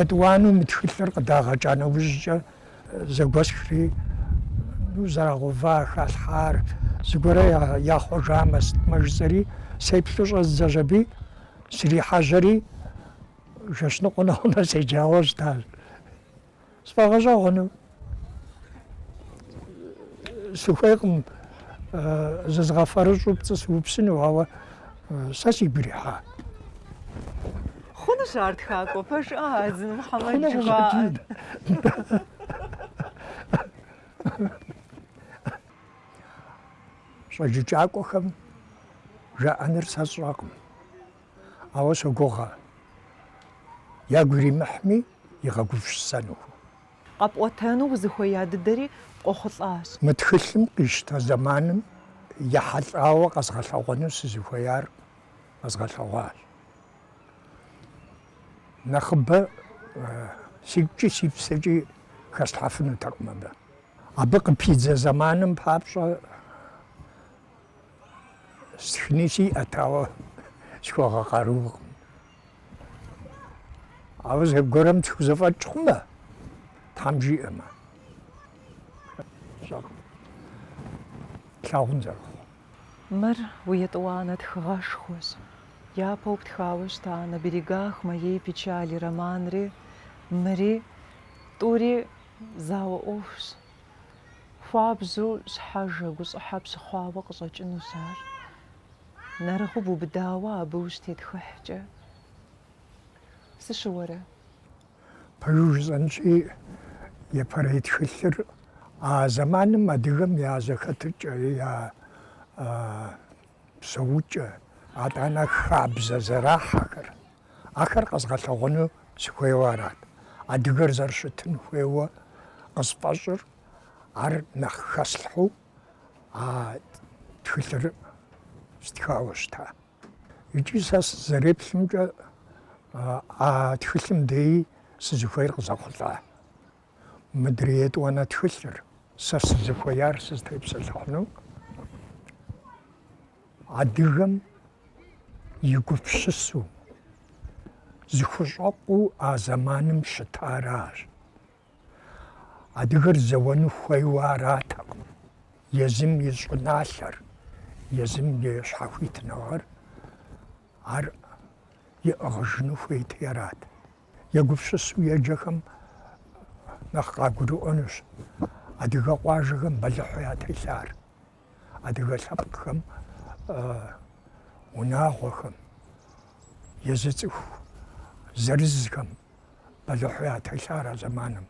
Етӏуанэу мы тхылъыр къыдагъэкӏа нэужькӏэ зэгуэсхри, ну, зэрагъэува халъхьар, зыгуэрэ яхъуэжамэ сытмэ жысӏэри, сеплъу щӏэздзэщ аби, срихьэжьэри, жэщ ныкъуэ нэхъунэ седжауэ щытащ. Сфӏэгъэщӏэгъуэну сыхуейкъым, зызгъэфэрыщӏу пцӏы сыупсыну, ауэ сэ сигу ирихьа. Хъунущ ар тхакӏуэ, пэжыӏэ Адзын Мухьэмэд жыхуаӏэр. Щӏэджыкӏакӏуэхэм жаӏэныр сэ сщӏэкъым, ауэ согугъэ, ягу иримыхьми, игъэгупсысэнухэу. Къэпӏуэтэну узыхуея дыдэри къохъулӏащ. Мы тхылъым къищтэ зэманым ехьэлӏауэ къэзгъэлъэгъуэну сызыхуеяр къэзгъэлъэгъуащ. Нэхъыбэ сигукӏи си псэкӏи хэслъхьэфынутэкъым абы. Абы къыпидзэ зэманым папщӏэ, Стхыни сиӏэт, ауэ схуэгъэкъаруркъым. Ауэ зэгуэрым схузэфӏэкӏ хъумэ, Тхьэм жиӏэмэ, слъагъун зэрыхъу. Мыр уи етӏуанэ тхыгъэшхуэщ. Япэу птхауэ щыта На берегах моей печали романри, мыри, тӏури зауэ ӏуэхущ. Хуабжьу щхьэжэ, гущӏыхьэ пщыхъуауэ къыщӏэкӏынущ ар, нэрыгъыу бубыдауэ абы ущытетхыхькӏэ. Сыщыуэрэ? Пэжу жысӏэнщи, епэрей тхылъыр а зэманым адыгэм я зэхэтыкӏэ, я псэукӏэ, атӏанэ хабзэ зэрахьэхэр. Ахэр къэзгъэлъэгъуэну сыхуейуэ арат. Адыгэр зэрыщытын хуейуэ къысфӏэщӏыр, ар нэхъ хэслъхьэу а тхылъыр стхауэ щыта. Икӏи сэ сызэреплъымкӏэ, а тхылъым деи сызыхуейр къызэхъулӏа. Мыдрей етӏуанэ тхылъыр, сэ сызыхуеяр сызытепсэлъыхьыну. Адыгэм и гупсысэу, зыхущӏэкъуу а зэманым щытаращ. Адыгэр зэуэну хуейуэ аратэкъым. Езым и щӏыналъэр, езым и щхьэхуитыныгъэр ар иӏыгъыжыну хуейти арат. Егупсысу еджэхэм нэхъ къагурыӏуэнущ Адыгэ къуажэхэм бэлыхьу ятелъар. Адыгэ лъэпкъхэм, унагъуэхэм, езы цӏыху зырызхэм бэлыхьу ятелъар а зэманым.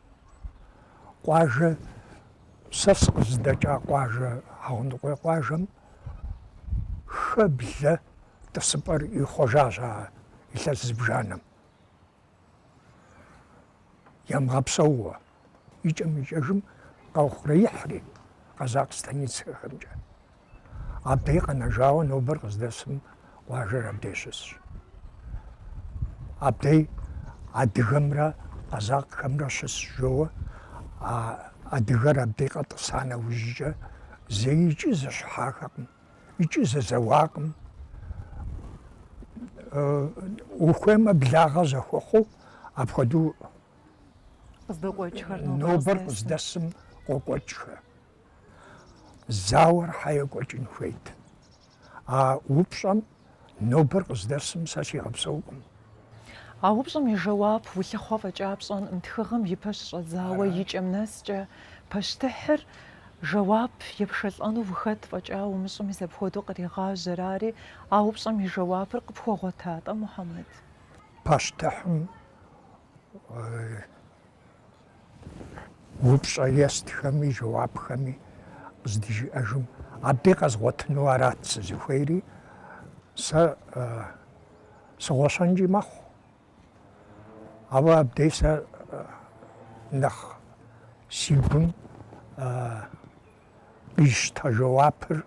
Къуажэ, сэ сыкъызыдэкӏа къуажэ, Хьэгъундыкъуей къуажэм хэ-блэ тӏысыпӏэр ихъуэжащ а илъэс зыбжанэм. Ямыгъэпсэууэ, икӏэм-икӏэжым къэухъуреихьри къэзакъ станицэхэмкӏэ. Абдей къэнэжауэ нобэр къыздэсым къуажэр абдей щысщ. Абдей адыгэмрэ къэзакъхэмрэ щыс жоуэ, а адыгэр абдей къэтӏыса нэужькӏэ зэикӏи зэщыхьахэкъым. икӏи зэзэуакъым. Ухуеймэ благъэ зэхуэхъуу апхуэдэу нобэр къыздэсым къокӏуэкӏхэ. Зауэр хьэ екӏуэкӏын хуейт. А упщӏэм нобэр къыздэсым сэ сигъэпсэукъым. А упщӏэм и жэуап улъыхъуэ фӏэкӏа пщӏэнкъым тхыгъэм и пэ щыщӏэдзауэ и кӏэм нэскӏэ. Пащтыхьыр жэуап епшэлӏэну ухэт фӏэкӏа умыщӏэу мис апхуэдэу къригъажьэр ари, а упщӏэм и жэуапыр къыпхуэгъуэта-тӏэ Мухьэмэд? Пащтыхьым Упщӏэ естхэми, жэуапхэми къыздыжиӏэжым абдей къэзгъуэтыну арат сызыхуейри, сэ сыгъуэщэнкӏи мэхъу. Ауэ абдей сэ нэхъ си гум къищтэ жэуапыр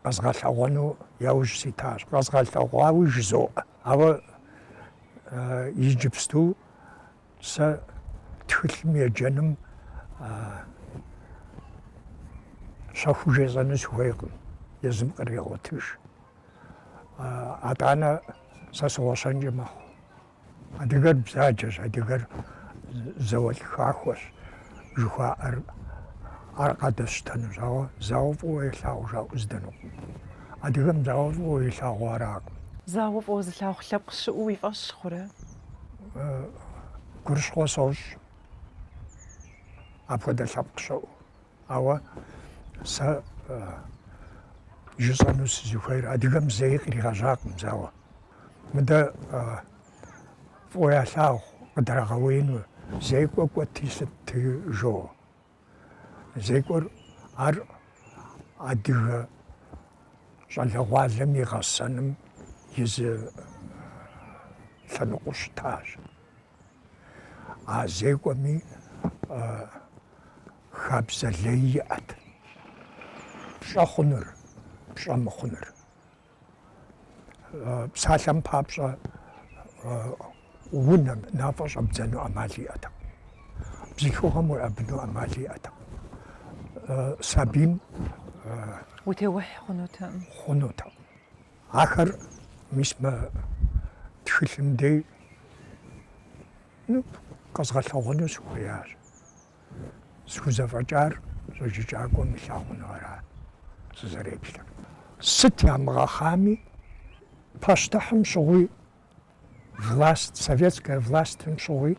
къэзгъэлъэгъуэну яужь ситащ. Къэзгъэлъэгъуауи жызоӏэ. Ауэ иджыпсту Сэ тхылъым еджэным щэхуу жесӏэну сыхуейкъым, езым кърегъуэтыж. Атӏанэ сэ сыгъуэщэнкӏэ мэхъу. Адыгэр бзаджэщ, адыгэр зауэлӏ хахуэщ жыхуаӏэр ар къадэсщтэнущ, ауэ зауэ фӏыуэ елъагъу жаӏэу здэнукъым. Адыгэм зауэ фӏыуэ илъагъу аракъым. Зауэ фӏыуэ зылъагъу лъэпкъ щыӏэу уи фӏэщ хъурэ? гурыщхъуэ сощӏ апхуэдэ лъэпкъ щыӏэу. Ауэ сэ жысӏэну сызыхуейр адыгэм зэи къригъэжьакъым, зауэ. Мыдэ фӏыуэ ялъагъу къыдрагъэуеину, зекӏуэ кӏуэти лъытти жо. Зекӏуэр ар адыгэ щӏалэгъуалэм и гъэсэным и зы лъэныкъуэу щытащ. А зекӏуэми хабзэ лей иӏэт, пщӏэ хъуныр, пщӏэ мыхъуныр. псалъэм папщӏэ унэм нафӏэ щӏэбдзэну ӏэмал иӏэтэкъым. Бзылъхугъэм уеӏэбыну ӏэмал иӏэтэкъым. Сабийм утеухь хъунутэкъым. Ахэр мис мы тхылъым дей къэзгъэлъэгъуэну сыхуеящ. Схузэфӏэкӏар щӏэджыкӏакӏуэм илъагъунуращ сызэреплъыр. Сыт ямыгъэхъами, пащтыхьым щыгъуи, власт, советская властым щыгъуи,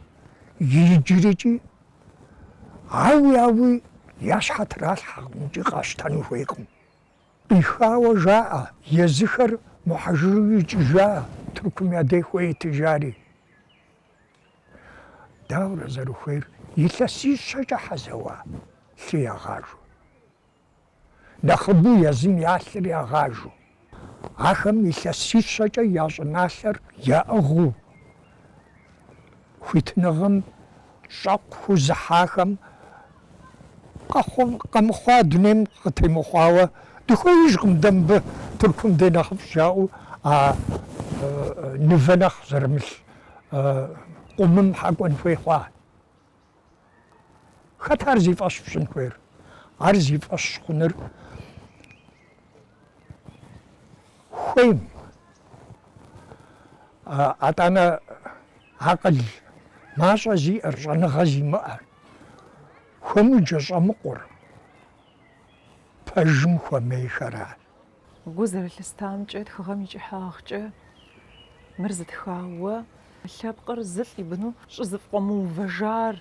иджырыкӏи, ауи, ауи, я щхьэ тралъхьэкъым икӏи къащтэну хуейкъым. Къихауэ жаӏэ, езыхэр мухьэжыжу икӏыжа, Тыркум я дей хуейт, жари. Дауэрэ зэрыхуейр илъэсищэкӏэ хэзэуа лъы ягъажу, нэхъыбэу езым я лъыр ягъажу, ахэм илъэсищэкӏэ я щӏыналъэр яӏыгъыу, хуитыныгъэм щӏэкъу хэзыхьахэм къэмыхъуа дунейм къытемыхъуауэ дыхуеижкъым дэ мыбы Тыркум дей нэхъыфӏщ жаӏэу а нывэ нэхъ зэрымылъ Къумым хэкӏуэн хуей хъуа? Хэт ар зи фӏэщ пщӏын хуейр? Ар зи фӏэщ хъуныр хуейм. Атӏанэ акъыл мащӏэ зиӏэр, щӏэныгъэ зимыӏэр, хуэмыджэ щӏэмыкъур пэжым хуэмейхэращ. Гу зэрылъыстамкӏэ, тхыгъэм и кӏыхьагъкӏэ мыр зытхауэ, лъэпкъыр зылӏ и быну щӏызэкъуэмыувэжар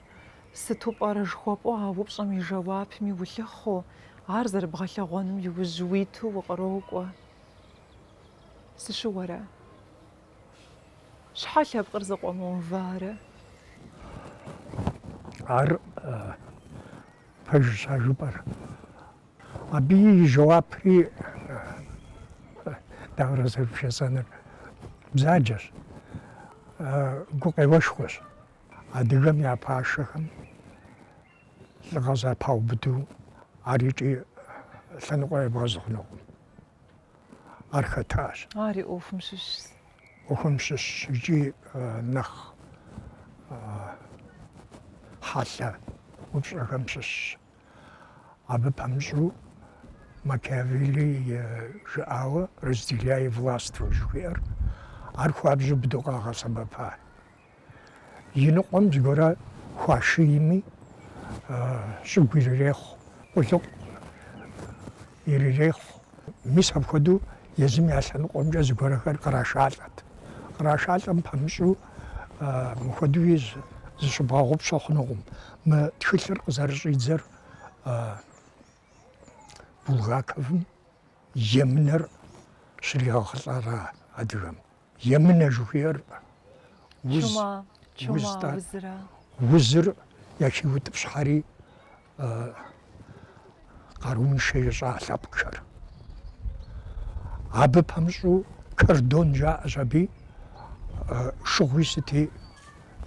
сыту пӏэрэ жыхуэпӏэу а упщӏэм и жэуапми улъыхъуэу, ар зэрыбгъэлъэгъуэным и ужь уиту укърокӏуэ. Сыщыуэрэ? Щхьэ лъэпкъыр зыкъуэмыуварэ? Ар пэжщ а жыпӏэр. Абы и жэуапри дауэрэ зэрыбжесӏэнур бзаджэщ, гукъеуэшхуэщ адыгэм я пашэхэм лӏыгъэ зэпаубыду ар икӏи лъэныкъуэ ебгъэзы хъунукъым. Ар хэтащ. Ар и ӏуэхум щыщщ. ӏуэхум щыщщ икӏи нэхъ хьэлъэ упщӏэхэм щыщщ. Абы пэмыщӏу Макиавелли жыӏауэ разделяй властвуй жыхуиӏэр, ар хуабжьу быдэу къагъэсэбэпа. Иныкъуэм зыгуэрэ хуашийми, щӏыгу ирырехъу, къулыкъу ирырехъу. Мис апхуэдэу езым я лъэныкъуэмкӏэ зыгуэрхэр кърашалӏэт. Кърашалӏэм пэмыщӏу Мыхуэдэуи зыщыбгъэгъупщэ хъунукъым. Мы тхылъыр къызэрыщӏидзэр Булгаковым емынэр щригъэхъулӏара адыгэм? Емынэ жыхуиӏэр уз, уз, узыр яхиутӏыпщхьэри къарууншэ ищӏа лъэпкъхэр. Абы пэмыщӏу кордон жаӏэщ аби, шыгъуи сыти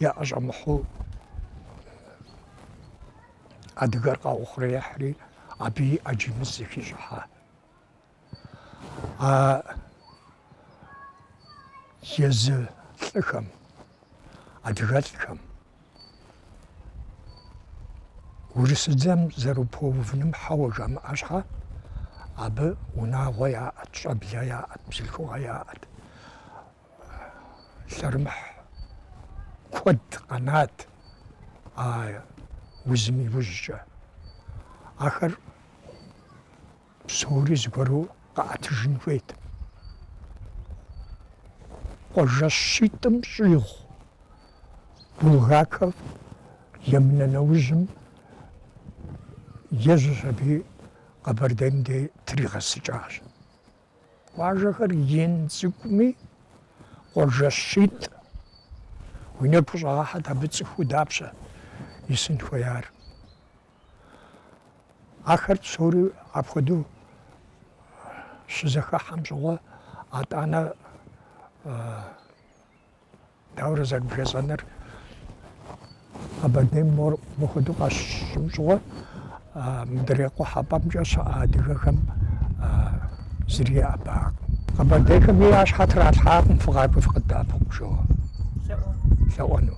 яӏэщӏэмыхьу адыгэр къаухъуреихьри, абыи ӏэджи мыс зэхищӏыхьа. а езы лӏыхэм, адыгэлӏхэм урысыдзэм зэрыпэувыным хьэуэ жамыӏэ щхьа, абы унагъуэ яӏэт, щӏэблэ яӏэт, бзылъхугъэ яӏэт. Лъэрымыхь куэд къэнат а узым иужькӏэ. Ахэр Псори зыгуэру къэӏэтыжын хуейт. Къуажэ щитӏым щӏигъу Булгаков емынэ нэужьым, ежьэщ аби Къэбэрдейм де тригъэсыкӏащ. Къуажэхэр ин цӏыкӏуми, къуажэ щитӏ уи нэгу къыщӏэгъэхьэт абы цӏыхуу дапщэ исын хуеяр. Ахэр псори апхуэдэу щызэхыхьэм щӏыгъуэ, атӏанэ даурэ зэрыбжесӏэныр Къэбэрдейм мор мыхуэдэу къащыщӏым щӏыгъуэ, мыдрей къухьэпӏэмкӏэ щыӏэ адыгэхэм зыри еӏэбакъым. Къэбэрдейхэми я щхьэ тралъхьакъым фыкъакӏуи фыкъыддэӏэпыкъу жыу лъэӏуэну.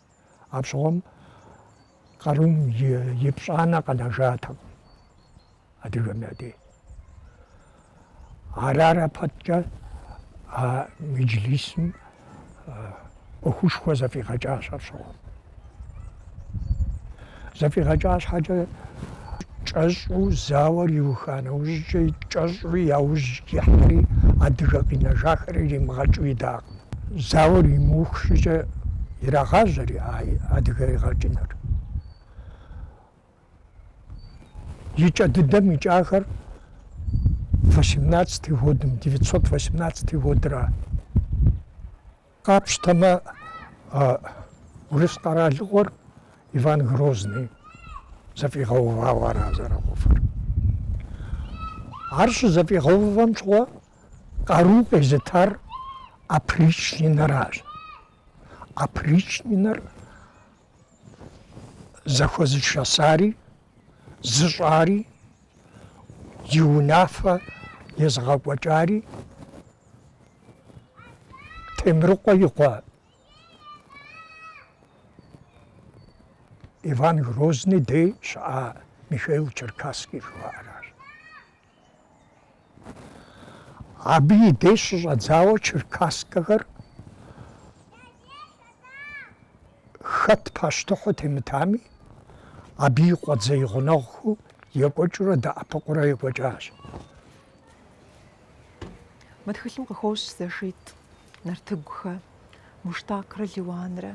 Апщыгъуэм къарум и пщӏанэ къэнэжатэкъым адыгэм я дей. Арарэ пэткӏэ а меджлисым ӏуэхушхуэ зэфӏигъэкӏащ апщыгъуэм. Зэфӏигъэкӏа щхьэкӏэ, кӏэщӏу зауэр иуха нэужькӏэ, кӏэщӏу яужь ихьэри, адыгэ къинэжахэр иримыгъэкӏыу идакъым. Зауэр имыух щӏыкӏэ ирагъажьэри а адыгэ игъэкӏыныр. И кӏэ дыдэм икӏахэр восемнадцатый годым, девятьсот восемнадцатый годра. Къапщтэмэ, урыс къэралыгъуэр Иван Грозный зэфӏигъэувауэ ара зэрыхъуфыр. Ар щызэфӏигъэувэм щыгъуэ къару къезытар опричнинэращ. Опричнинэр зэхуэзышэсари, зыщӏари, и унафэ езыгъэкӏуэкӏари Темрыкъуэ и къуэ Иван Грозный дей щыӏа Михаил Черкасский жыхуаӏэращ. Абы и деж щыщӏэдзауэ черкасскэхэр хэт пащтыхьу темытами, абы и къуэдзэ, и гъунэгъухэу екӏуэкӏыурэ дэӏэпыкъуурэ екӏуэкӏащ. Мы тхылъым къыхощ зэшитӏ. Нартыгухэ, Муштакрэ Лиуанрэ.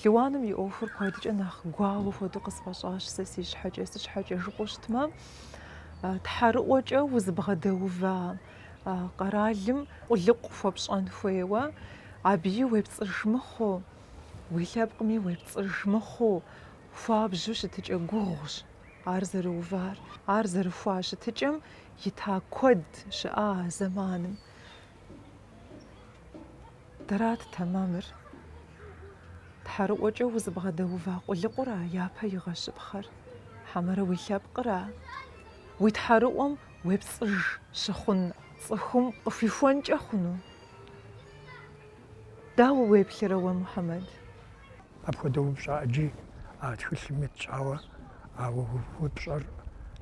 Лиуаным и ӏуэхур куэдкӏэ нэхъ гуауэ хуэдэу къысфӏэщӏащ сэ си щхьэкӏэ, си щхьэкӏэ жыпӏэу щытмэ, тхьэрыӏуэкӏэ узыбгъэдэува къэралым къулыкъу хуэпщӏэн хуейуэ, абыи уепцӏыж мыхъуу, уи лъэпкъми уепцӏыж мыхъуу, хуабжьу щытыкӏэ гугъущ ар зэрыувар. Ар зэрыхуа щытыкӏэм ита куэд щыӏа а зэманым. Дэрат тэмэмыр. Тхьэрыӏуэкӏэ узыбгъэдэува къулыкъура япэ игъэщыпхъэр? Хьэмэрэ уи лъэпкъра? Уи тхьэрыӏуэм уепцӏыж щыхъун цӏыхум къыхуихуэнкӏэ хъуну? Дауэ уеплърэ уэ, Мухьэмэд? Апхуэдэ упщӏэ ӏэджи а тхылъым итщ, ауэ а уи упщӏэр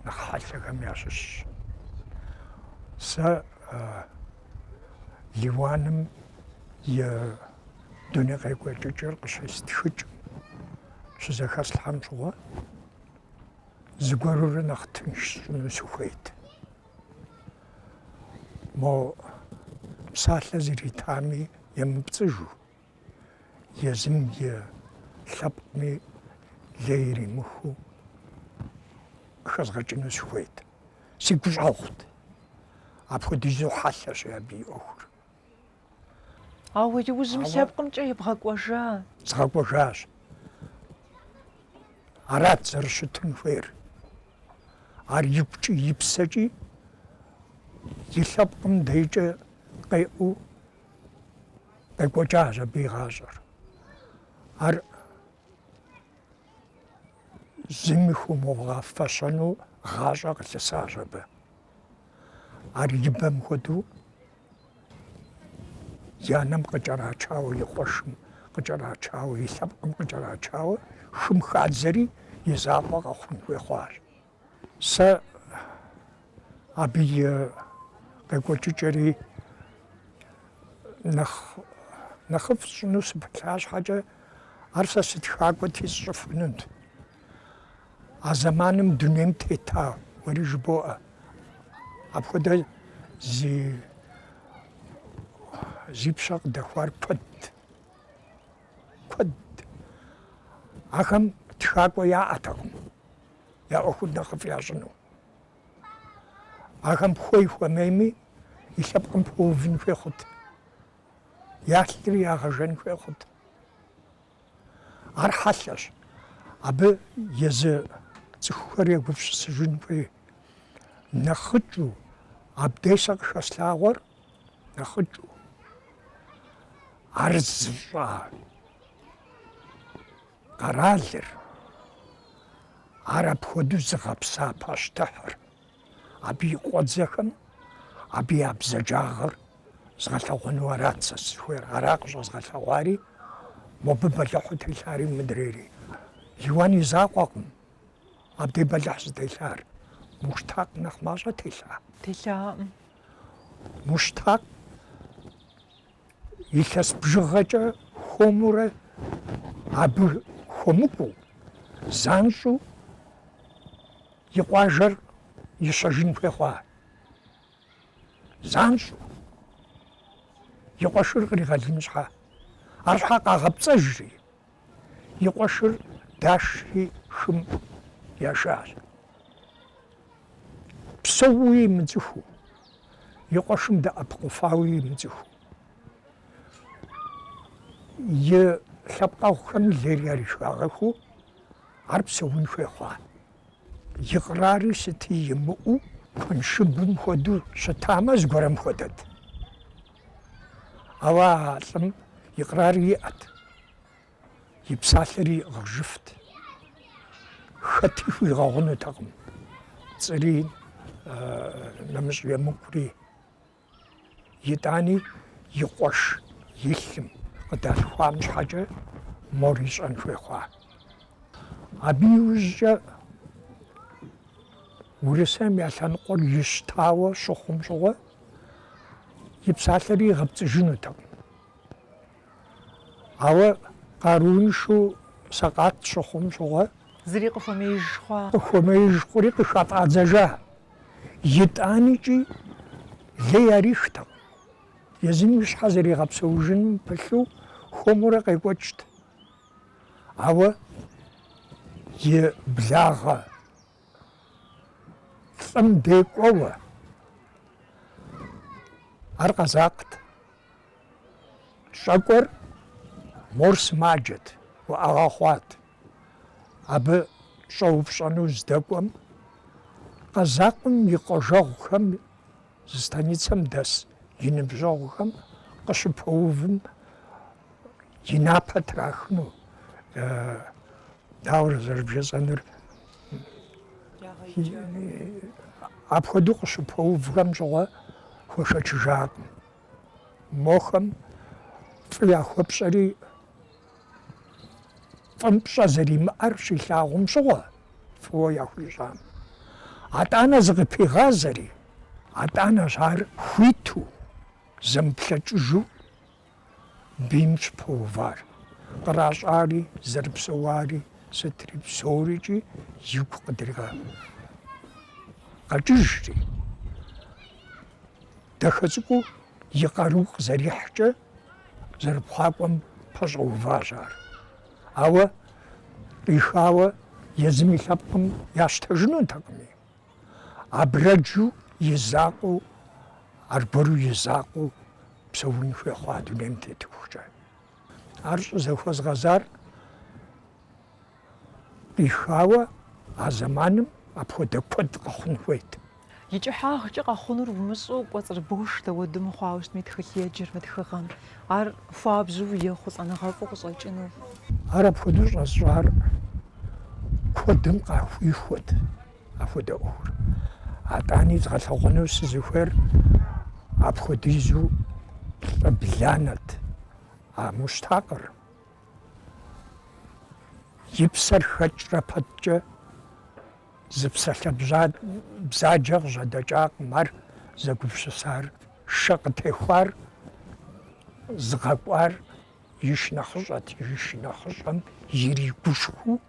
нэхъ хьэлъэхэм ящыщщ. Сэ Лиуаным и дуней къекӏуэкӏыкӏэр къыщестхыкӏым щызэхэслъхьэм щыгъуэ зыгуэрурэ нэхъ тынш сщӏыну сыхуейт. Мо псалъэ зритами емыпцӏыжу. езым и лъэпкъми лей иримыхыу хэзгъэкӏыну сыхуейт. Си гущӏэгъут. Апхуэдизу хьэлъэщ абы и ӏуэхур. Ауэ иужьым лъэпкъымкӏэ ебгъэкӏуэжа? Згъэкӏуэжащ. Арат зэрыщытын хуейр. Ар и гукӏи и псэкӏи и лъэпкъым дейкӏэ къеӏэу Къекӏуэкӏащ абы и гъащӏэр. Ар зыми хуумыгъэфэщэну гъащӏэ къылъысащ абы. Ар ибэм хуэдэу и анэм къыкӏэрачауэ, и къуэшым къыкӏэрачауэ, и лъэпкъым къыкӏэрачауэ, хым хадзэри и закъуэ къэхъун хуей хъуащ. Сэ абы и къекӏуэкӏыкӏэри нэхъ нэхъыфӏ сщӏыну сыпылъа щхьэкӏэ, ар сэ сытхакӏуэти сщӏыфынут. А зэманым дунейм тета уэри жыбоӏэ, апхуэдэ зи зи пщэ къыдэхуар куэдт, куэдт. Ахэм тхакӏуэ яӏэтэкъым. я ӏуэхур нэхъыфӏ ящӏыну. Ахэм хуей-хуэмейми, и лъэпкъым пэувын хуей хъут. Ялъри ягъэжэн хуей хъут. Ар хьэлъэщ. Абы езы цӏыхухэр егупсысыжын хуей. Нэхъыкӏыу абдей сэ къыхэслъагъуэр нэхъыкӏыу. Ар зыщӏа къэралыр, ар апхуэдэу зыгъэпса пащтыхьыр, абы и къуэдзэхэм абы я бзаджагъэр згъэлъэгъуэну арат сэ сызыхуейр, ара къыщӏэзгъэлъэгъуари, мобы бэлыхьу телъари мыдрейри. Лиуан и закъуэкъым абдей бэлыхь зытелъар. Муштакъ нэхъ мащӏэ телъа? Телъаӏым. Муштакъ илъэс бжыгъэкӏэ хуэмурэ абы хуэмыкӏуэу, занщӏэу и къуажэр ищэжын хуей хъуа? Занщӏэу и къуэшыр къригъэлын щхьэ, арщхьэ къагъэпцӏэжри, И къуэшыр дашри хым яшащ. Псэууи имыцӏыхуу, и къуэшым дэӏэпыкъуфауи имыцӏыхуу. И лъэпкъэгъухэм лейр ярырагъэхыу, ар псэун хуей хъуа. И кърари сыти имыӏэу, куэншыбым хуэдэу щытамэ, зыгуэрэм хуэдэт. Ауэ а лӏым и къэрари иӏэт, и псалъэр иӏыгъыжыфт. Хэти хуигъэгъунутэкъым, пцӏыри нэмыщӏ емыкӏури. Итӏани и къуэш и лъым къыдалъхуам щхьэкӏэ мор ищӏэн хуей хъуа. Абы иужькӏэ Урысейм я лъэныкъуэр ищтауэ щыхъум щыгъуэ, И псалъэри игъэпцӏыжынутэкъым. Ауэ къарууншэу сэкъат щыхъум щыгъуэ. Зыри къыхуэмеиж хъуа? Къыхуэмеиж хъури къыхыфӏадзэжа. Итӏаникӏи лей ярихтэкъым. Езым и щхьэ зэригъэпсэужыным пылъу хуэмурэ къекӏуэкӏт. Ауэ и благъэ Лӏым декӏуэуэ. Ар къэзакът. Щӏэкӏуэр мор сымаджэт, уӏэгъэ хъуат. Абы щӏэупщӏэну здэкӏуэм, къэзакъым и къуажэгъухэм Зы станицэм дэс и ныбжьэгъухэм къыщыпэувым и напэ трахыну, дауэрэ зэрыбжесӏэнур, апхуэдэу къыщыпэувхэм щыгъуэ хуэшэчыжакъым. Мохэм фӏы яхуэпщӏэри, Фӏым пщӏэ зэримыӏэр щилъагъум щыгъуэ фӏыуэ яхуищӏам. Атӏанэ зыкъыпигъазэри, атӏанэщ ар хуиту, зэмыплъэкӏыжу бийм щыпэувар, къращӏари, зэрыпсэуари сытри псорикӏи игу къыдригъэкъэкӏыжри, дахэ цӏыкӏуу и къару къызэрихькӏэ зэрыпхъуакӏуэм пэщӏэуващ ар. Ауэ къихауэ езым и лъэпкъым ящтэжынутэкъыми, абрэджу и закъуэу, аргуэру и закъуэу псэун хуей хъуа дунейм тетыхукӏэ. Ар щӏызэхуэзгъэзар Къихауэ а зэманым апхуэдэ куэд къэхъун хуейт. И кӏыхьагъкӏэ къэхъунур умыщӏэу кӏуэцӏыр бгыш дауэду мыхъуауэ щытми тхылъеджэр мы тхыгъэм. Ар хуабжьу ехъулӏэныгъэфӏу къыщӏэкӏыну. Ар апхуэдэу щӏэсщӏар куэдым къахуихуэт апхуэдэ ӏуэхур. Атӏани згъэлъэгъуэну сызыхуейр апхуэдизу лӏы бланэт а Муштакъыр. И псэр хэкӏрэ пэткӏэ зы псалъэ бзаджэ къыжьэдэкӏакъым ар зэгупсысар, шэ къытехуар, зыгъэкӏуар и шынэхъыщӏэт, и шынэхъыщӏэм иригушхуу,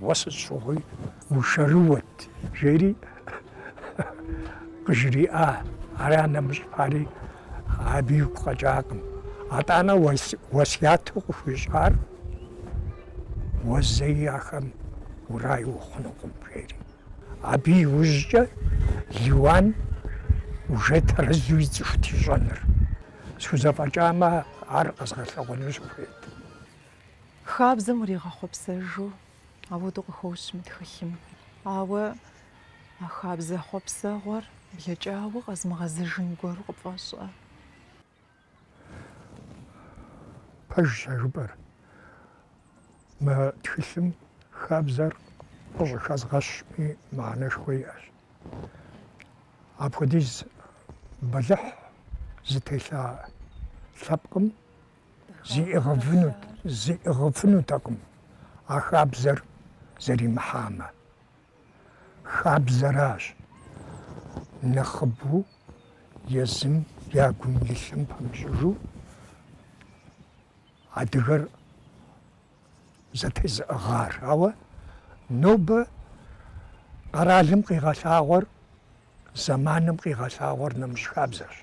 Уэ сыт щыгъуи ушэрыуэт, жери къыжриӏа. Ар анэмыщӏ пари абы игу къэкӏакъым. Атӏанэ уэсяту къыхуищӏар уэ зэи ахэм урай ухъунукъым, жери. Абы иужькӏэ Лиуан уже тэрэзу ицӏыхут ищӏэныр. Схузэфӏэкӏамэ, ар къэзгъэлъэгъуэну сыхуейт. Хабзэм уригъэхъуэпсэжу апхуэдэу къыхощ мы тхылъым. Ауэ а хабзэ хъуэпсэгъуэр блэкӏауэ къэзмыгъэзэжын гуэру къыпфӏэщӏэ. Пэжщ а жыпӏэр. Мы тхылъым хабзэр къыщӏыхэзгъэщми мыхьэнэшхуэ иӏэщ. Апхуэдиз бэлыхь зытелъа лъэпкъым Зиӏыгъыфынут, зиӏыгъыфынутэкъым а хабзэр зэримыхьамэ. Хабзэращ нэхъыбэу езым я гум илъым пэмыщӏыжу адыгэр зэтезыӏыгъар. Ауэ нобэ къэралым къигъэлъагъуэр, зэманым къигъэлъагъуэр нэмыщӏ хабзэрщ.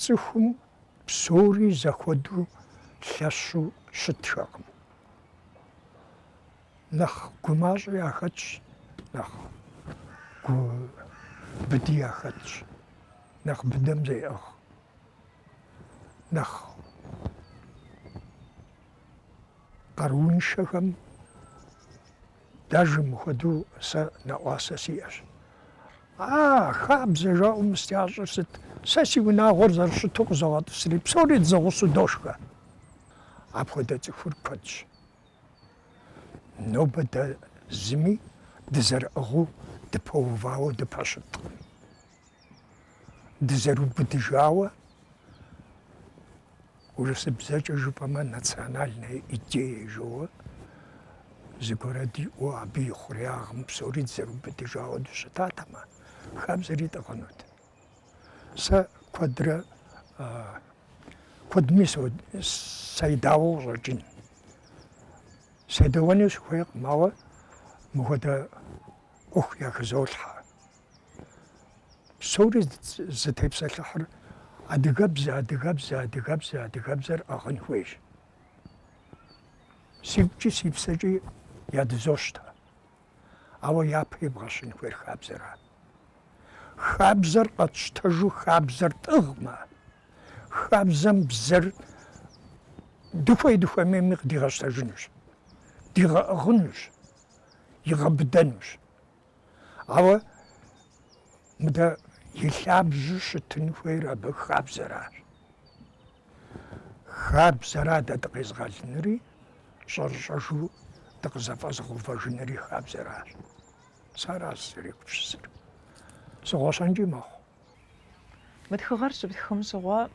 Цӏыхум Псори зэхуэдэу лъэщу щытхэкъым. Нэхъ гумащӏэ яхэтщ, нэхъ гу быди яхэтщ, нэхъ быдэм зеӏыгъ, нэхъ къарууншэхэм Даже мыхуэдэу сэ нэӏуасэ сиӏэщ. А, хабзэ жаӏэу мыстящӏыр сыт? Сэ си унагъуэр зэрыщыту къызогъэтӏысри, псори дызэгъусэу дошхэ. Апхуэдэ цӏыхур куэдщ. Нобэ дэ зыми дызэрыӏыгъыу дыпэувауэ дыпэщыткъым. Дызэрыубыдыжауэ. Урысыбзэкӏэ жыпӏэмэ национальная идея жоуэ, зыгуэрэ диӏэу абы и хъуреягъым псори дызэрыубыдыжауэ дыщытатэмэ, хабзэри тӏыгъынут. Сэ куэдрэ куэдми саидауэ къыщӏэкӏын. Седэуэну сыхуейкъым, ауэ мыхуэдэ ӏуэху яхызолъхьэ. Псори зытепсэлъыхьыр адыгэбзэ, адыгэбзэ, адыгэбзэ, адыгэбзэр ӏыгъын хуейщ. Сигукӏи си псэкӏи ядызощтэ. Ауэ япэ ибгъэщын хуейр хабзэра. Хабзэр къэтщтэжу хабзэр тӏыгъмэ, хабзэм бзэр дыхуей дыхуэмейми къыдигъэщтэжынущ, дигъэӏыгъынущ, игъэбыдэнущ. Ауэ мыдэ и лъабжьу щытын хуейр абы хабзэращ. Хабзэра дэ дыкъезыгъэлынури, щӏэрыщӏэжу дыкъызэфӏэзыгъэувэжынри хабзэращ. Сэ аращ сызэрегупсысыр. Сыгъуэщэнкӏи мэхъу. Мы тхыгъэр щыптхым щыгъуэ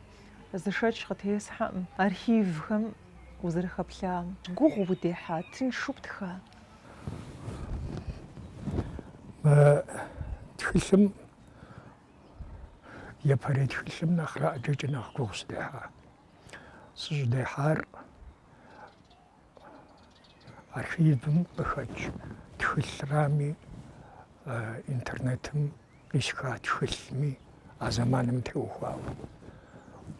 зы шэч къытесхьэркъым архивхэм узэрыхэплъам. Гугъу удехьа, тыншу птха? Мы тхылъым, япэрей тхылъым нэхърэ ӏэджэкӏэ нэхъ гугъу сыдехьа. Сыщӏыдехьар Архивым къыхэкӏ тхылърами,, интернетым къисха тхылъми а зэманым теухуауэ,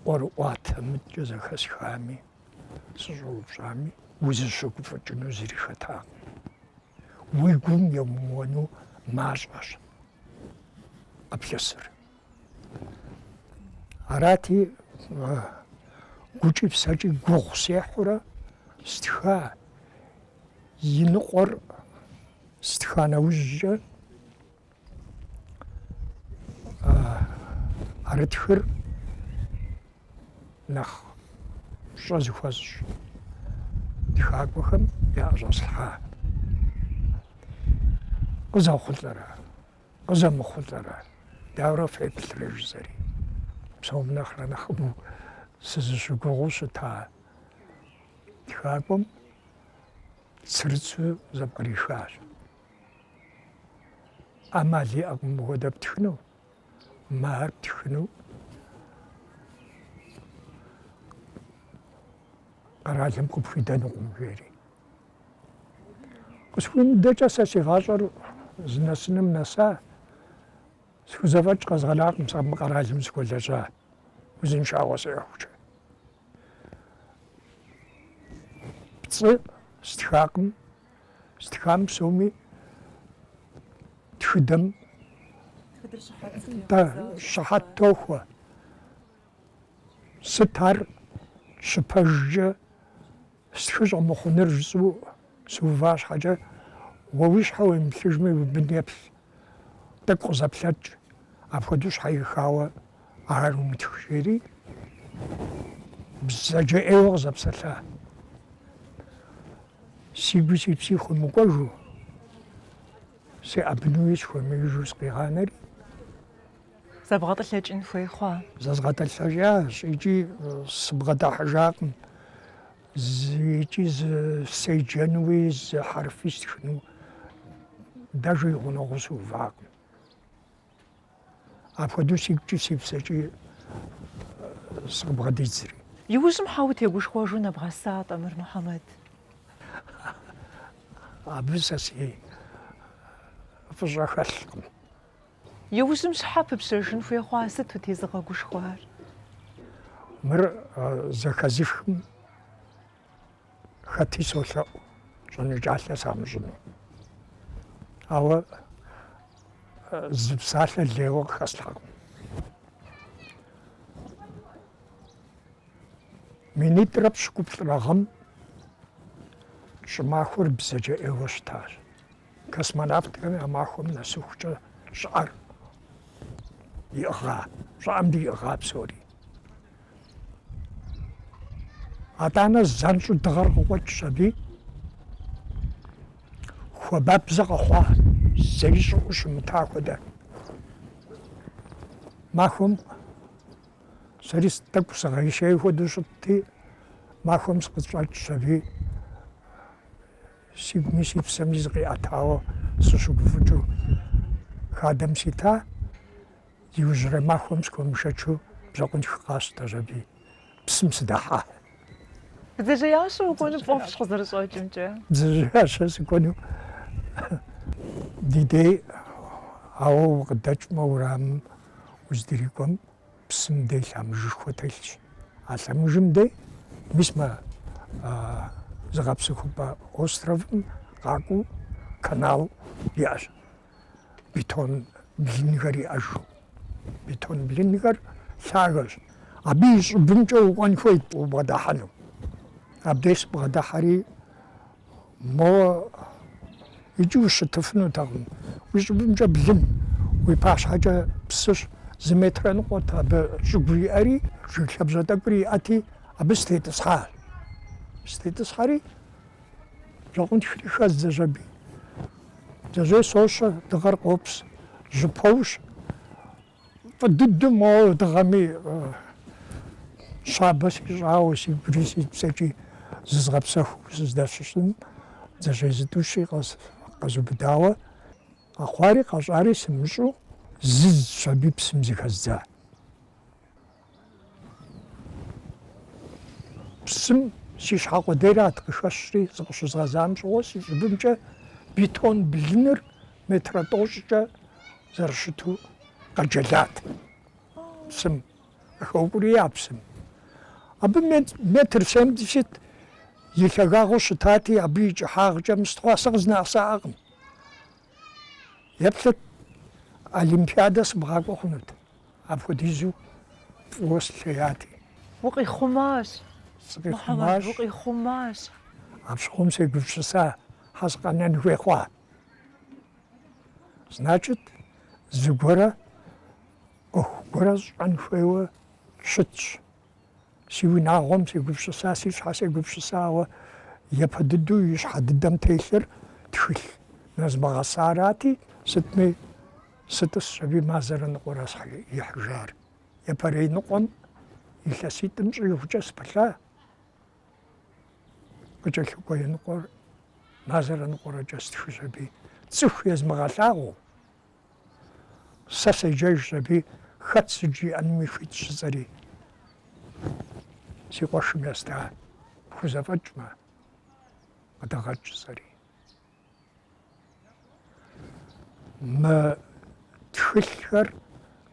ӏуэрыӏуатэ мыткӏэ зэхэсхами, сыщӏэупщӏами, узыщыгуфӏыкӏыну зыри хэтакъым. Уи гум емыуэну мащӏэщ къыплъысыр. Арати, гукӏи псэкӏи гугъу сехьурэ стха и ныкъуэр стха нэужькӏэ ӏэрытхыр нэхъ пщӏэ зыхуэсщӏ тхакӏуэхэм яӏэщӏэслъхьа къызэхъулӏэрэ Къызэмыхъулӏэрэ, дауэрэ феплърэ жысӏэри. Псом нэхърэ нэхъыбэу сызыщыгугъыу щыта тхакӏуэм цырыцу зэпкърихащ. ӏэмал иӏэкъым мыхуэдэ птхыну, махэр птхыну къэралым къыпхуидэнукъым жери. Къысхуимыдэкӏэ сэ си гъащӏэр зынэсыным нэса, схузэфӏэкӏ къэзгъэнакъым сэ мы къэралым сыхуэлэжьа узыншагъуэ сиӏэхукӏэ. Пцӏы стхакъым, стхам псоми тхыдэм щыхьэт тохуэ. Сыт ар щыпэжкӏэ Стхы щӏэмыхъуныр жысӏэу сыува щхьэкӏэ, уэ уи щхьэ уемыплъыжми уи бын еплъ, тӏэкӏу къызэплъэкӏ, апхуэдэу щхьэихауэ ар умытх, жери бзэджэ ӏейуэ къызэпсэлъа. Си гуи си пси хуэмыкӏуэжу, сеӏэбынуи сыхуэмеижу сыкъигъанэри, Зэбгъэтӏылъэкӏын хуей хъуа? Зэзгъэтӏылъэкӏащ икӏи сыбгъэдыхьэжакъым. Икӏи зы седжэнуи, зы хьэрфи стхыну дэжи и гъунэгъуу сыувакъым. Апхуэдэу сигукӏи си псэкӏи сыкъыбгъэдидзри. Иужьым щхьэ утегушхуэжу нэбгъэса тӏэ мыр, Мухьэмэд? Абы сэ си фӏыщӏэ хэлъкъым. Иужьым щхьэ пыпщэжын хуей хъуа, сыту тезыгъэгушхуар? Мыр зэхэзыхым хэти солъэӏу, щӏэныкӏалъэ самыщӏыну. Ауэ зы псалъэ лейуэ къыхэслъхьэкъым. Минитӏрэ пщыкӏуплӏрэ гъэм щӏымахуэр бзэджэ ӏейуэ щытащ. Космонавтхэм я махуэм нэсыхукӏэ щӏыӏэр иӏыгъа? Щӏыӏэм диӏыгъа псори? Атӏанэ занщӏу дыгъэр къыкъуэкӏщ аби, хуабабзэ къэхъуа, зэи щӏыӏэу щымыта хуэдэ. Махуэм сэри тӏэкӏу сыгъейшей хуэдэу щытти, махуэм сыкъыщӏэкӏщ аби, Сигуми си псэми зыкъиӏэтауэ сыщыгуфӏыкӏыу хадэм сита, иужьрей махуэм схуэмышэчу бжьэкъунтх къасщтэщ аби, псым сыдэхьа. Бдзэжьеящэ укӏуэну пфӏэфӏщ къызэрыщӏэкӏымкӏэ. Бдзэжьеящэ сыкӏуэну ди дей, ауэ укъыдэкӏмэ уэрамым уздрикӏуэм, Псым дей лъэмыжышхуэ телъщ. А лъэмыжым дей мис мы зыгъэпсэхупӏэ островым къакӏуэу канал иӏэщ, бетон блынхэр иӏэжу. Бетон блынхэр лъагэщ. Абы и щӏыбымкӏэ укӏуэн хуейт убгъэдыхьэну. Абдей сыбгъэдыхьэри. Моуэ икӏи ущытыфынутэкъым. Уи щӏыбымкӏэ блын, уи пащхьэкӏэ псыщ. Зы метрэ ныкъуэт абы щӏыгу иӏэри, жыг лъабжьэ тӏэкӏури иӏэти, абы сытетӏысхьащ. Сытетӏысхьэри, бжьэкъунтхри хэздзэщ аби. Бдзэжьей сощэ, дыгъэр къопс, жьы поущ. Фӏы дыдэу моуэ дыгъэми щабэ сищӏауэ си гури си псэкӏи зызгъэпсэхуу сыздэщысым бдзэжьей зытӏущи къэзубыдауэ къэхъуари къэщӏари сымыщӏэу зыздзщ аби псым зыхэздза. Псым си щхьэ къудейрат къыхэщри, зыкъыщызгъэзам щыгъуэ си щӏыбымкӏэ бетон блыныр метрэ тӏощӏкӏэ зэрыщыту къэджэлат псым, къыхэукӏурия псым. Абы метр семьдесят и лъагагъыу щытати, абы и кӏыхьагъкӏэ мыстхъуа сэ къызынэӏэсаӏэкъым. Еплъыт, Олимпиадэ сыбгъакӏуэ хъунут. Апхуэдизу фӏыуэ слъеяти. Укъихъумащ, сыкъихъумащ, укъихъумащ. Апщыгъуэм сегупсыса, щхьэ сыкъэнэн хуей хъуа? Значит, зыгуэрэ ӏуэху гуэрэ сщӏэн хуейуэ щытщ. Си унагъуэм сегупщыса, си щхьэ сегупщысауэ япэ дыдэу и щхьэ дыдэм телъыр тхылъ нэзмыгъэсарати, сытми сытӏысщ аби мазэрэ ныкъуэрэщ ихьыжар. Япэрей ныкъуэм илъэситӏым щӏигъукӏэ сыпылъа къыкӏэлъыкӏуэ и ныкъуэр мазэрэ ныкъуэрэкӏэ стхыщ аби цӏыху езмыгъэлъагъуу. Сэ седжэжщ аби хэт сыт жиӏэнуми хуитщ жысӏэри. Си къуэшым еста, пхузэфӏэкӏмэ, къыдэгъэкӏ сӏэри. Мы тхылъхэр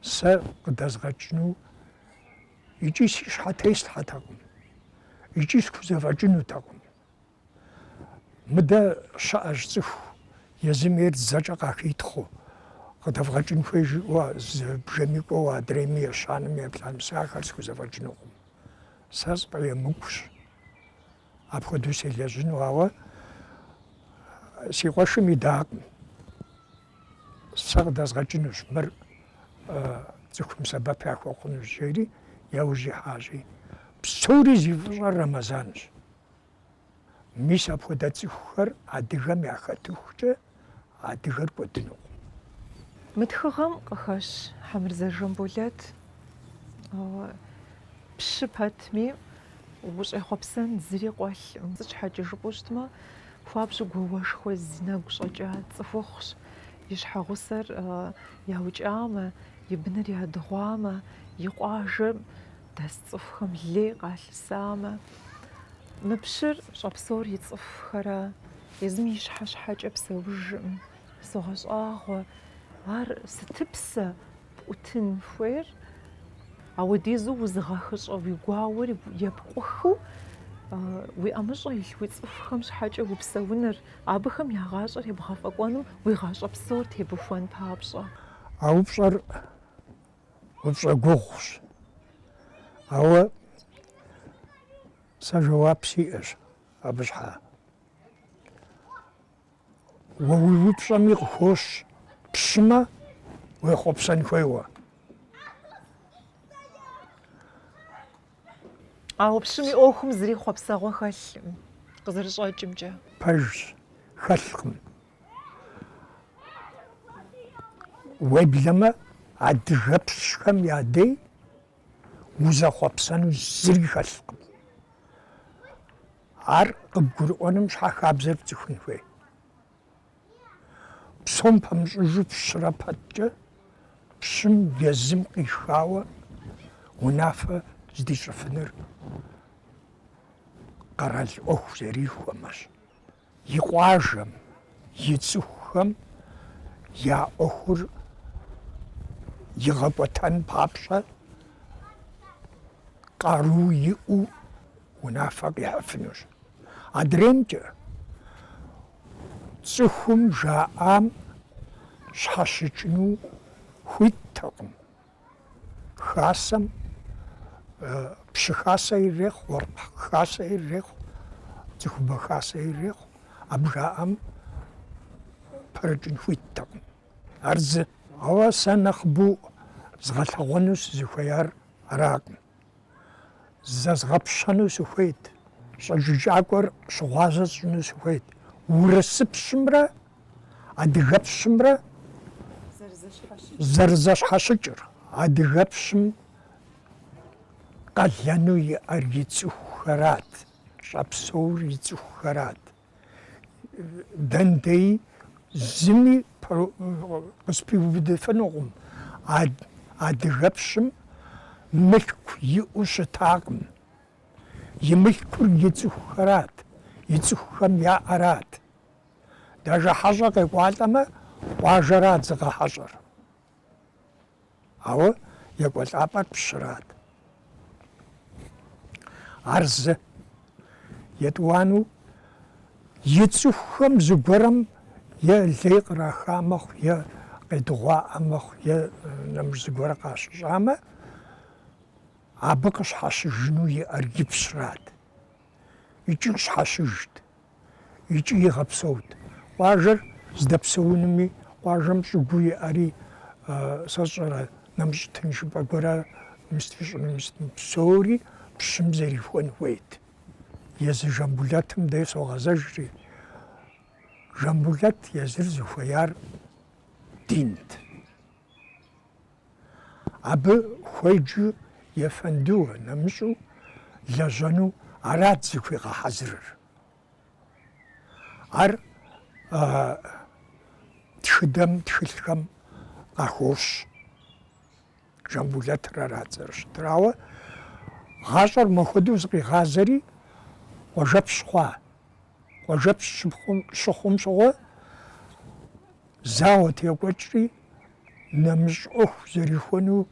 сэ къыдэзгъэкӏыну икӏи си щхьэ теслъхьэтэкъым, икӏи схузэфӏэкӏынутэкъым. Мыдэ щыӏэщ цӏыху езым ейр дзэкӏэ къахитхъыу, къыдэвгъэкӏын хуей жиӏэу зы бжэми кӏуэуэ адрейми ещанэми еплӏанэм, сэ ахэр схузэфӏэкӏынукъым. Сэ сфӏэемыкӏущ апхуэдэу селэжьыну, ауэ си къуэшым идакъым. Сэ къыдэзгъэкӏынущ, мыр цӏыхум сэбэп яхуэхъунущ, жери яужь ихьащи. Псори зи фӏыщӏэр Рэмэзанщ. Мис апхуэдэ цӏыхухэр адыгэм яхэтыхукӏэ адыгэр кӏуэдынукъым. Мы тхыгъэм къыхэщ Хьэмырзэ Жамболэт пщы пэтми ущӏехъуэпсэн зыри къуэлъкъым. Сыт щхьэкӏэ жыпӏэу щытмэ, хуабжьу гуауэшхуэ зи нэгу щӏэкӏа цӏыхухъущ. И щхьэгъусэр яукӏамэ, и быныр ядыгъуамэ, и къуажэм Дэс цӏыхухэм лей къалъысамэ, мы пщыр щӏэпсэур и цӏыхухэрэ, езым и щхьэ щхьэкӏэ псэужкъым согъэщӏагъуэ, ар сыт псэ пӏутын хуейр, ауэдизу узыгъэхыщӏэ уи гуауэр епкъухыу, уи ӏэмыщӏэ илъ уи цӏыхухэм щхьэкӏэ упсэуныр, абыхэм я гъащӏэр ебгъэфӏэкӏуэным уи гъащӏэ псор тебухуэн папщӏэ. А упщӏэр упщӏэ гугъущ. Ауэ сэ жэуап сиӏэщ абы щхьа. Уэ уи упщӏэми къыхощ, пщымэ уехъуэпсэн хуейуэ. Ауэ пщым и ӏуэхум зыри хъуэпсэгъуэ хэлъкъым, къызэрыщӏэкӏымкӏэ. Пэжщ, хэлъкъым. Уеблэмэ адыгэпщхэм я дей узэхъуэпсэну зыри хэлъкъым. Ар къыбгурыӏуэным щхьэ хабзэр пцӏыхун хуей. Псом пэмыщӏыжу пщырэ пэткӏэ пщым езым къихауэ унафэ здищӏыфыныр къэрал ӏуэху зэрихуэмэщ. И къуажэм, и цӏыхухэм я ӏуэхур игъэкӏуэтэн папщӏэ къару иӏэу унафэ къихьыфынущ. Адреймкӏэ цӏыхум жаӏам щхьэщыкӏыну хуиттэкъым. Хасэм пщы хасэ ирехъу, уэркъ хасэ ирехъу, цӏыхубэ хасэ ирехъу. Абы жаӏэм пэрыкӏын хуиттэкъым. Ар зы. Ауэ сэ нэхъыбэу згъэлъэгъуэну сызыхуеяр аракъым. Зэзгъэпщэну сыхуейт, щӏэджыкӏакӏуэр щыгъуазэ сщӏыну сыхуейт урысыпщымрэ адыгэпщымрэ зэрызэщхьэщыкӏыр, адыгэпщым къалэну иӏэр и цӏыхухэрат, щӏэпсэур и цӏыхухэрат. Дэндеи зыми къыспиубыдыфынукъым, адыгэпщым мылъку иӏэу щытакъым. И мылъкур и цӏыхухэрат, и цӏыхухэм яӏэрат. Даже хьэщӏэ къекӏуалӏэмэ, къуажэрат зыгъэхьэщӏэр. Ауэ екӏуэлӏапӏэр пщырат. Ар зы. Етӏуанэу и цӏыхухэм зыгуэрэм е лей къраха мэхъу, е къедыгъуаӏэ мэхъу, е нэмыщӏ зыгуэрэ къащыщӏамэ, абы къыщхьэщыжыну иӏэр и пщырат. икӏи щхьэщыжт, икӏи игъэпсэут. Къуажэр здэпсэунми, къуажэм щӏыгуу иӏэри, сэ сщӏэрэ, нэмыщӏ тыншыпӏэ гуэрэ мост ищӏынум сытми, псори пщым зэрихуэн хуейт. Езы Жамбулэтым дей согъэзэжри, Жамбулэт езыр зыхуеяр динт. Абы хуеджэу ефэндыуэ нэмыщӏу лэжьэну арат зыхуигъэхьэзырыр. Ар тхыдэм, тхылъхэм къахощ. Жамбулэтыр арат зэрыщытыр. Ауэ гъащӏэр махуэдэу зыкъигъазэри, къуажэпщ хъуа. Къуажэпщ щыпхъум, щыхъум щыгъуэ, зауэ текӏуэкӏри, нэмыщӏ ӏуэху зэрихуэну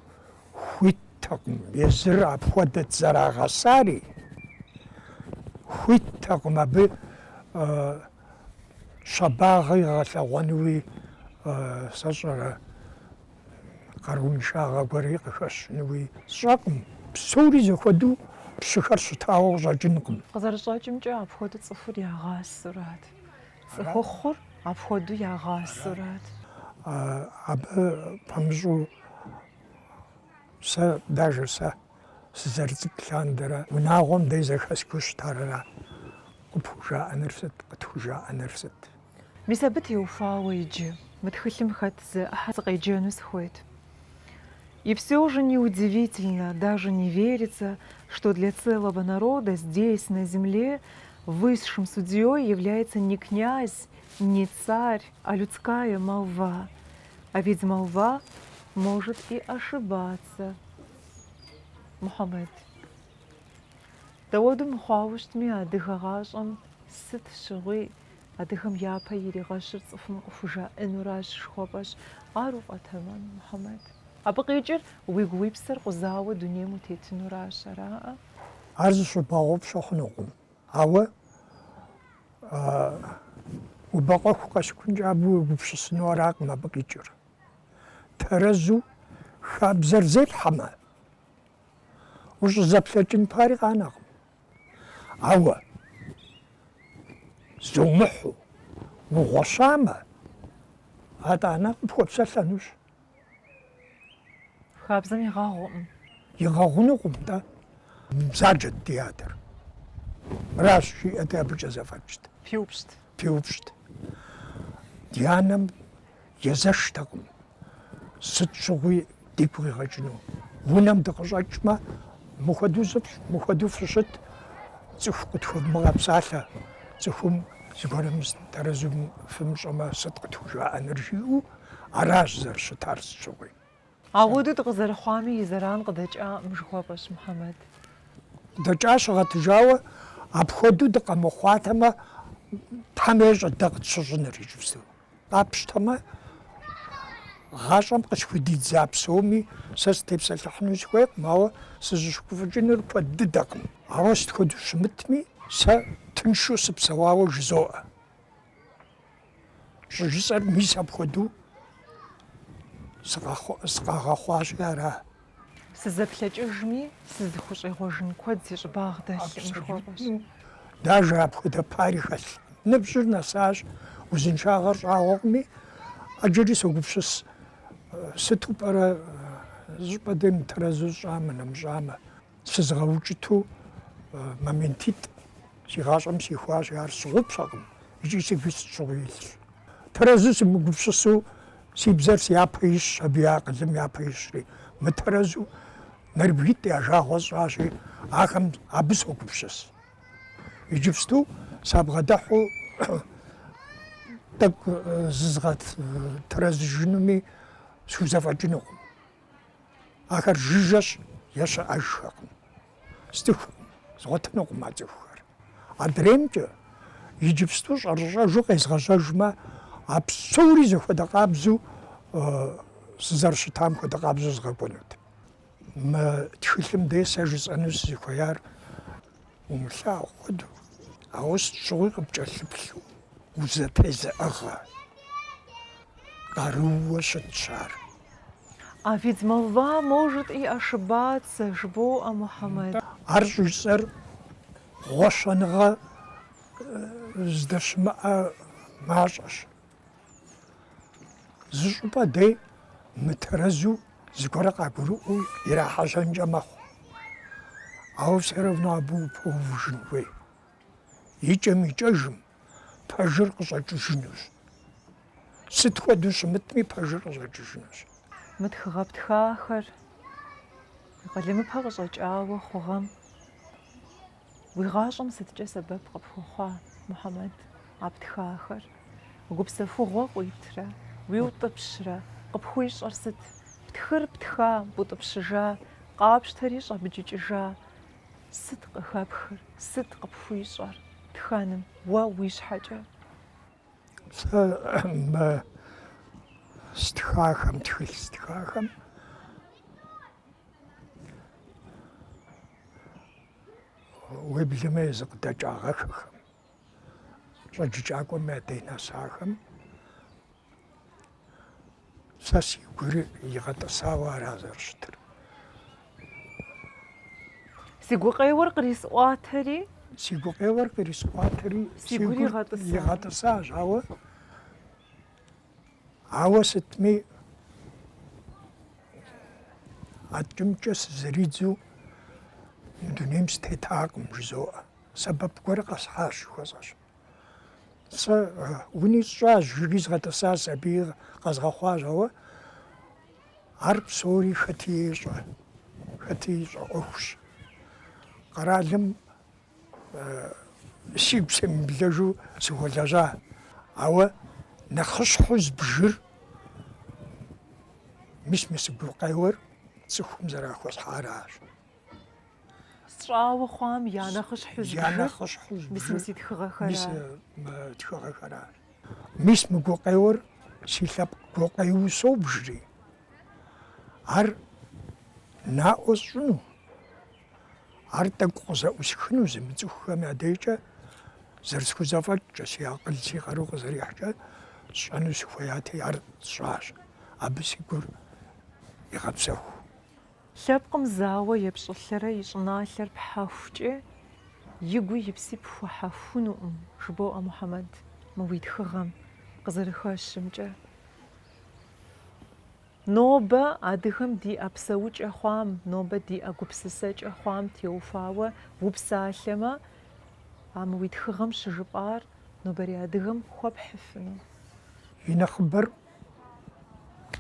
хуиттэкъым. Езыр апхуэдэт зэрагъэсари, хуиттэкъым абы щабагъэ игъэлъэгъуэнуи, сэ сщӏэрэ. къарууншагъэ гуэри къыхэщынуи сщӏэкъым. Псори зэхуэдэу пщыхэр щытауэ къыщӏэкӏынкъым. Къызэрыщӏэкӏымкӏэ, апхуэдэу цӏыхур ягъасэурат. Цӏыхухъур апхуэдэу ягъасэурат. Абы пэмыщӏу сэ, даже сэ. Сызэрыцӏыкӏу лъандэрэ унагъуэм дей зэхэсхыу щытар ара? Къыпхужаӏэныр сыт? Къытхужаӏэныр сыт? Мис абы теухуауэ иджы мы тхылъым хэт зы ӏыхьэ сыкъеджэну сыхуейт. И всё же неудивительно, даже не верится, что для целого народа здесь, на земле, высшим судьей является не князь, не царь, а людская молва. А ведь молва может и ошибаться. Мухьэмэд. Дауэдэу мыхъуауэ щытми, адыгэ гъащӏэм сыт щыгъуи адыгэм япэ иригъэщыр цӏыхум къыхужаӏэнуращ жыхуэпӏэщ. Ар уфӏэтэмэм, Мухьэмэд. Абы къикӏыр уигу уи псэр къузауэ дунейм утетынуращ, араӏэ? Ар зыщыбгъэгъупщэ хъунукъым, ауэ убэкъуэху къэсыхункӏэ абы уегупсысыну аракъым абы къикӏыр. Тэрэзу хабзэр зепхьэмэ, ущӏызэплъэкӏын пари къанэкъым. Ауэ зумыхьу угъуэщамэ, атӏанэ къыпхуэпсэлъэнущ. Хабзэм игъэгъукъым. Игъэгъунукъым-тӏэ. Бзаджэт ди адэр. Мыращ жиӏэти, абыкӏэ зэфӏэкӏт. Пиупщӏт. Пиупщӏт. Ди анэм Езэштэкъым, сыт щыгъуи дигу къигъэкӏыну. Унэм дыкъыщӏэкӏмэ, мыхуэдэу зыфщӏ, мыхуэдэу фыщыт, цӏыху къытхуэвмыгъэпсалъэ, цӏыхум зыгуэрым тэрэзум фымыщӏэмэ, сыт къытхужаӏэныр жиӏэу, аращ зэрыщытар сыт щыгъуи. Апхуэдэу дыкъызэрыхъуами, и зэран къыдэкӏакъым жыхуэпӏэщ, Мухьэмэд. Къыдэкӏа щыгъэтыжауэ, апхуэдэу дыкъэмыхъуатэмэ, Тхьэм ещӏэ дэ къытщыщӏыныр иджыпсту. Къапщтэмэ, гъащӏэм къысхудидза псоми сэ сытепсэлъыхьыну сыхуейкъым, ауэ сызыщыгуфӏыкӏынур куэд дыдэкъым. Ауэ сыт хуэдэу щымытми, сэ тыншу сыпсэуауэ жызоӏэ. Щӏыжысӏэр мис апхуэдэу сыкъагъэхъуащи ара? Сызэплъэкӏыжми, сызыхущӏегъуэжын куэд си щӏыбагъ дэлъкъым жыхуэпӏэщ. Даже апхуэдэ пари хэлъ. Ныбжьыр нэсащ, узыншагъэр щӏагъуэкъыми, ӏэджэри согупсыс, сыту пӏэрэ зыщӏыпӏэ дей мытэрэзу сщӏамэ, нэмыщӏамэ. сызыгъэукӏыту моментитӏ си гъащӏэм сихуащ, ар сщыгъупщэкъым икӏи сигуи сыт щыгъуи илъщ. Тэрэзу сымыгупсысу си бзэр си япэ ищщ, абы и акъылым япэ ищри, мытэрэзу нэрыбгитӏ я жагъуэ сщӏащи, ахэм абы согупсыс. Иджыпсту сабгъэдыхьу тӏэкӏу зызгъэтэрэзыжынуми схузэфӏэкӏынукъым. Ахэр жыжьэщ е щыӏэжхэкъым, сцӏыхукъым, згъуэтынукъым а цӏыхухэр. Адреймкӏэ иджыпсту щӏэрыщӏэжу къезгъэжьэжмэ, а псори зэхуэдэ къабзэу, сызэрыщытам хуэдэ къабзэу згъэкӏуэнут. Мы тхылъым дей сэ жысӏэну сызыхуеяр умылъагъу хуэдэу, ауэ сыт щыгъуи къыпкӏэлъыплъу узэтезыӏыгъэ къарууэ щытщ ар. А ведь молва может и ошибаться, жыбоӏэ Мухьэмэд. Ар щӏыжысӏэр гъуэщэныгъэ здэщымыӏэ мащӏэщ. Зы щӏыпӏэ дей мытэрэзу зыгуэрэ къагурыӏуэу ирахьэжьэнкӏэ мэхъу. Ауэ все равно абы упэувыжын хуей. Икӏэм-икӏэжым пэжыр къыщӏэкӏыжынущ. Сыт хуэдэу щымытми пэжыр къыщӏэкӏыжынущ. Мы тхыгъэ птхахэр къалэмыпэ къыщӏэкӏауэ хъугъэм. Уи гъащӏэм сыткӏэ сэбэп къыпхуэхъуа, Мухьэмэд, а птхахэр? Гупсэхугъуэ къуитрэ, уиутӏыпщрэ, къыпхуищӏэр сыт? Птхыр птха, бутӏыпщыжа, къапщтэри щӏэбджыкӏыжа, сыт къыхэпхыр, сыт къыпхуищӏэр тхэным, уэ уи щхьэкӏэ? Сэ мы стхахэм, тхылъ стхахэм, уеблэмэ езы къыдэкӏагъэхэхэм, щӏэджыкӏакӏуэм я дей нэсахэм сэ си гур игъэтӏысауэ ара зэрыщытыр. Си гукъеуэр кърисӏуатэри? Си гукъеуэр кърисӏуатэри, си гур игъэтӏысащ, ауэ Ауэ сытми адкӏэ-мыдкӏэ сызэридзу мы дунейм сытетакъым, жызоӏэ. Сэбэп гуэр къэсхьащ, жыхуэсӏэщ. Сэ уни сщӏащ, жыги згъэтӏысащ, сабий къэзгъэхъуащ, ауэ ар псори хэти ещӏэ, хэти ищӏэ ӏуэхущ. Къэралым Сигу семыблэжу сыхуэлэжьа, ауэ нэхъыщхьэу збжыр, мис мы си гукъеуэр цӏыхум зэрахуэсхьаращ. Сщӏауэ хъуам я нэхъыщхьэу збжыр, я нэхъыщхьэу збжыр, мис мы си тхыгъэхэращ. Мис мы тхыгъэхэращ. Мис мы гукъеуэр си лъэпкъ гукъеуэу собжри, ар наӏуэ сщӏыну. Ар тӏэкӏу къызэӏусхыну зымыцӏыхухэм я дежкӏэ зэрысхузэфӏэкӏкӏэ, си акъыл си къару къызэрихькӏэ сщӏэну сыхуеяти, ар сщӏащ. Абы си гур игъэпсэху. Лъэпкъым зауэ епщӏылъэрэ и щӏыналъэр пхьэхукӏэ, и гуи и пси пхуэхьэхунукъым, жыбоӏэ Мухьэмэд мы уи тхыгъэм къызэрыхэщымкӏэ. Нобэ адыгэм диӏэ псэукӏэ хъуам, нобэ диӏэ гупсысэкӏэ хъуам теухуауэ упсалъэмэ, а мы уи тхыгъэм щыжыпӏар нобэрей адыгэм хуэпхьыфыну. И нэхъыбэр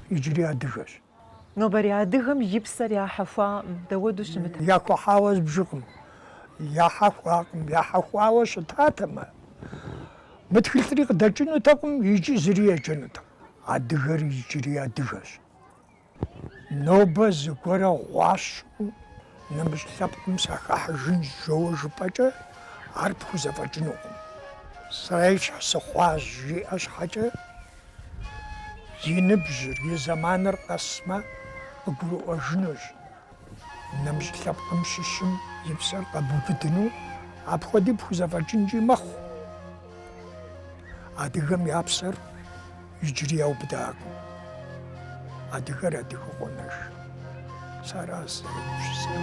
иджыри адыгэщ. Нобэрей адыгэм и псэр яхьэхуакъым, дауэду щымыт. Яхуэхьауэ збжыкъым, яхьэхуакъым, яхьэхуауэ щытатэмэ, мы тхылъри къыдэкӏынутэкъым, иджы зыри еджэнутэкъым. Адыгэр иджыри адыгэщ. Нобэ зыгуэрэ гъуащэу, нэмыщӏ лъэпкъым сахыхьэжынщ жоуэ жыпӏэкӏэ, ар пхузэфӏэкӏынукъым. Срещхь сыхъуащ жиӏэ щхьэкӏэ, и ныбжьыр, и зэманыр къэсмэ, къыгурыӏуэжынущ. Нэмыщӏ лъэпкъым щыщым и псэр къэбубыдыну апхуэди пхузэфӏэкӏынкӏи мэхъу. Адыгэм я псэр иджыри яубыдакъым. Адыгэр адыгэу къонэж. Сэ аращ сызэрыгупсысэр.